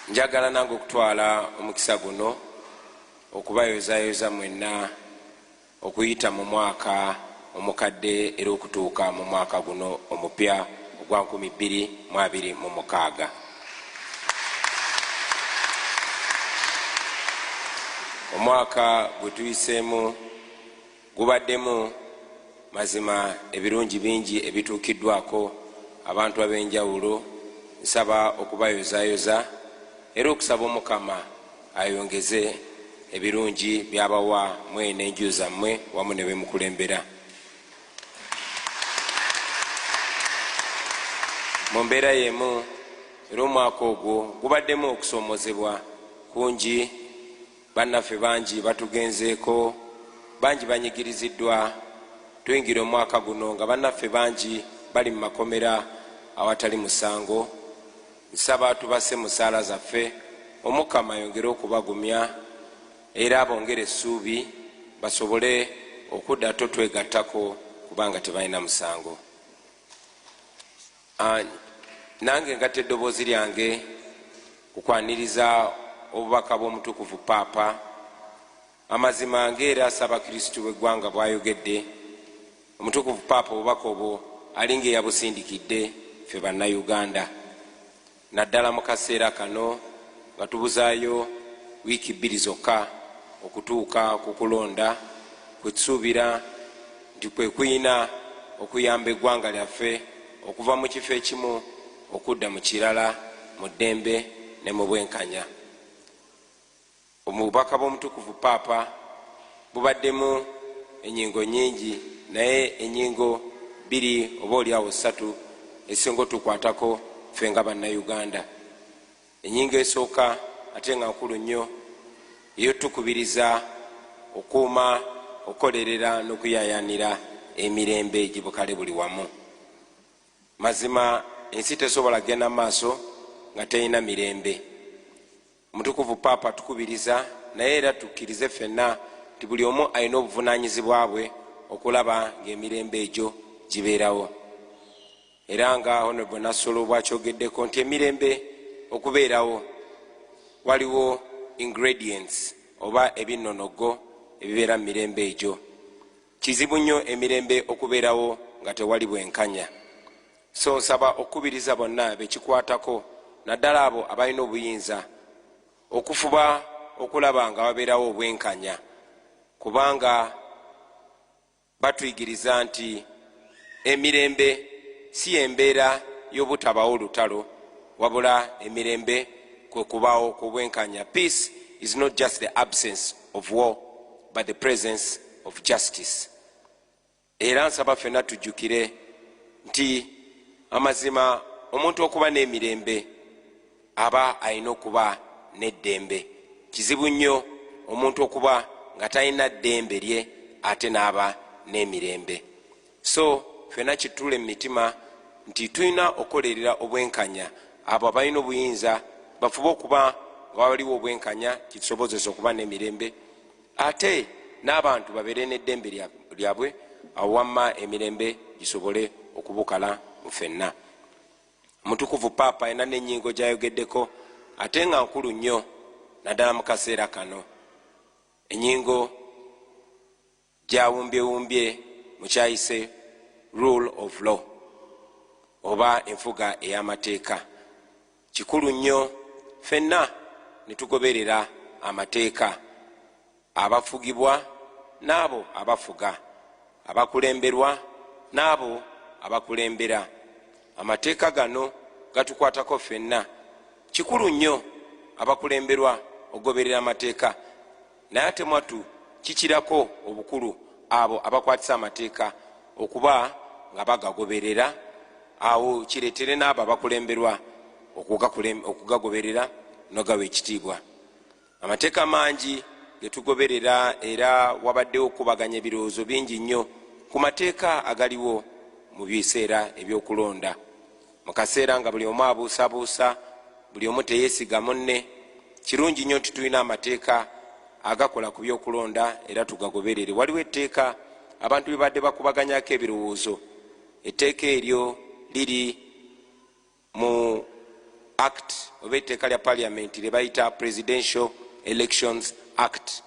Njagala nange okutwala omukisa guno okubayozayoza mwenna okuyita mu mwaka omukadde era okutuuka mu mwaka guno omupya ogwa 2026. Omwaka gwe tuyiseemu gubaddemu mazima ebirungi bingi ebituukiddwako abantu ab'enjawulo nsaba okubayozayoza era okusaba omukama ayongeze ebirungi byabawa mwe n'enju zammwe wamu ne bemukulembera mu mbeera y'emu era omwaka ogwo gubaddemu okusoomozebwa kungi Bannaffe bangi batugenzeeko, bangi banyigiriziddwa. Tuyingira omwaka guno nga bannaffe bangi bali mu makomera awatali musango. Nsaba tubasse mu ssaala zaffe, Omukama ayongere okubagumya era abongere essuubi basobole okudda totwegattako kubanga tebalina musango. An, Nange ngatta eddoboozi lyange ku kwaniriza obubaka bw'omutukuvu Paapa. Amazima nga era Ssabakristu w'eggwanga bwayogedde, omutukuvu Paapa obubaka obwo alinga eyabusindikidde ffe Bannayuganda. naddala mu kaseera kano nga tubuzaayo wiiki bbiri zokka okutuuka ku kulonda kwe tusuubira nti kwe kulina okuyamba eggwanga lyaffe okuva mu kifo ekimu okudda mu kirala mu ddembe ne mu bwenkanya. Obubaka bw'Omutukuvu Paapa bubaddemu ennyingo nnyingi naye ennyingo bbiri oba olyawo ssatu ezisinga otukwatako ffe nga Bannayuganda. Ennyingo esooka ate nga nkulu nnyo y'eyotukubiriza okuuma, okukolerera n'okuyayanira emirembe gibukale buli wamu. Mazima ensi tesobola kugenda mu maaso nga terina mirembe. Omutukuvu Paapa atukubiriza naye era tukkirize ffenna nti buli omu alina obuvunaanyizibwa bwe okulaba ng'emirembe egyo gibeerawo era nga Honorable Nassolo bw'akyogeddeko nti emirembe okubeerawo waliwo ingredients oba ebinnonoggo ebibeera mu mirembe egyo. Kizibu nnyo emirembe okubeerawo nga tewali bwenkanya. So nsaba okukubiriza bonna bekikwatako naddala abo abalina obuyinza okufuba okulaba nga wabeerawo obwenkanya kubanga batuyigiriza nti emirembe si yembeera y'obutabawo lutalo wabula emirembe kwe kubaawo kw'obwenkanya peace is not just the absence of war but the presence of justice Era nsaba fenna tujjukire nti amazima omuntu okuba n'emirembe aba alina okuba n'eddembe. Kizibu nnyo omuntu okuba nga talina ddembe lye ate n'aba n'emirembe. So fenna kituule mu mitima nti tulina okukolerera obwenkanya. Abo abalina obuyinza bafube okuba nga waliwo obwenkanya kitusobozese okuba n'emirembe. ate n'abantu babeere n'eddembe lyabwe awo wamma emirembe gisobole okubukala mu fenna omutukuvu paapa alina n'ennyingo gyayogeddeko ate nga nkulu nnyo naddala mu kaseera kano ennyingo gyawumbyewumbye mukyayise rule of law oba enfuga ey'amateeka Kikulu nnyo ffenna ne tugoberera amateeka, abafugibwa n'abo abafuga, abakulemberwa n'abo abakulembera. Amateeka gano gatukwatako ffenna. Kikulu nnyo abakulemberwa okugoberera amateeka. Naye ate mwattu ki kirako obukulu abo abakwatisa amateeka okuba nga bagagoberera, awo kireetere n'abo abakulemberwa okugagoberera nogawa ekitiibwa. Amateeka mangi ge tugoberera era wabaddewo okukubaganya ebirowoozo bingi nnyo ku mateeka agaliwo mu biseera eby'okulonda. mu kaseera nga buli omu abuusabuusa buli omu teyesiga munne kirungi nnyo nti tulina amateeka agakola ku byokulonda era tugagoberere waliwo etteeka abantu bebadde bakubaganyako ebirowoozo etteeka eryo liri mu act oba etteeka lya paliamenti lyebayita presidential elections act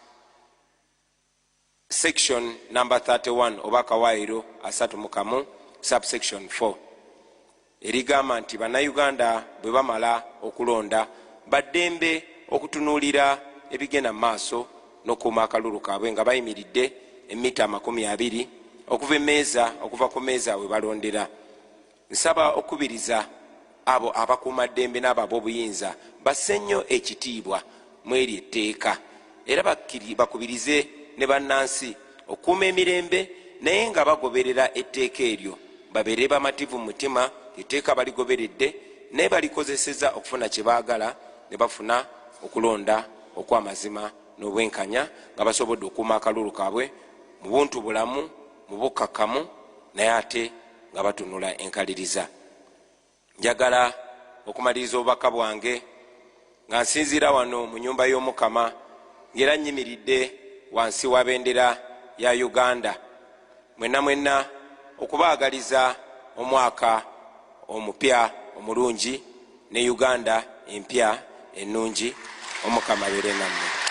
Section number 31 oba akawaayiro asatu mu kamu subsection 4 erigamba nti Bannayuganda bwe bamala okulonda ba ddembe okutunuulira ebigenda mu maaso n'okukuuma akalulu kaabwe nga bayimiridde emmita amakumi abiri okuva emmeeza okuva ku mmeeza we balondera. Nsaba okukubiriza abo abakuuma ddembe n'abo ab'obuyinza basse nnyo ekitiibwa mw'eryo etteeka era bakubirize ne bannansi okukuuma emirembe naye nga bagoberera etteeka eryo, babeere bamativu mu mutima nti etteeka baligoberedde naye balikozesezza okufuna kye baagala ne bafuna okulonda okw'amazima n'obwenkanya nga basobodde okukuuma akalulu kaabwe mu buntubulamu mu bukkakkamu naye ate nga batunula enkaliriza njagala okumaliriza obubaka bwange nga nsinziira wano mu nyumba y'omukama ngaera nyimiridde wansi wa bendera ya uganda mwenna mwenna okubaagaliza omwaka omupya omulungi ne uganda empya ennungi omukama beere nammwe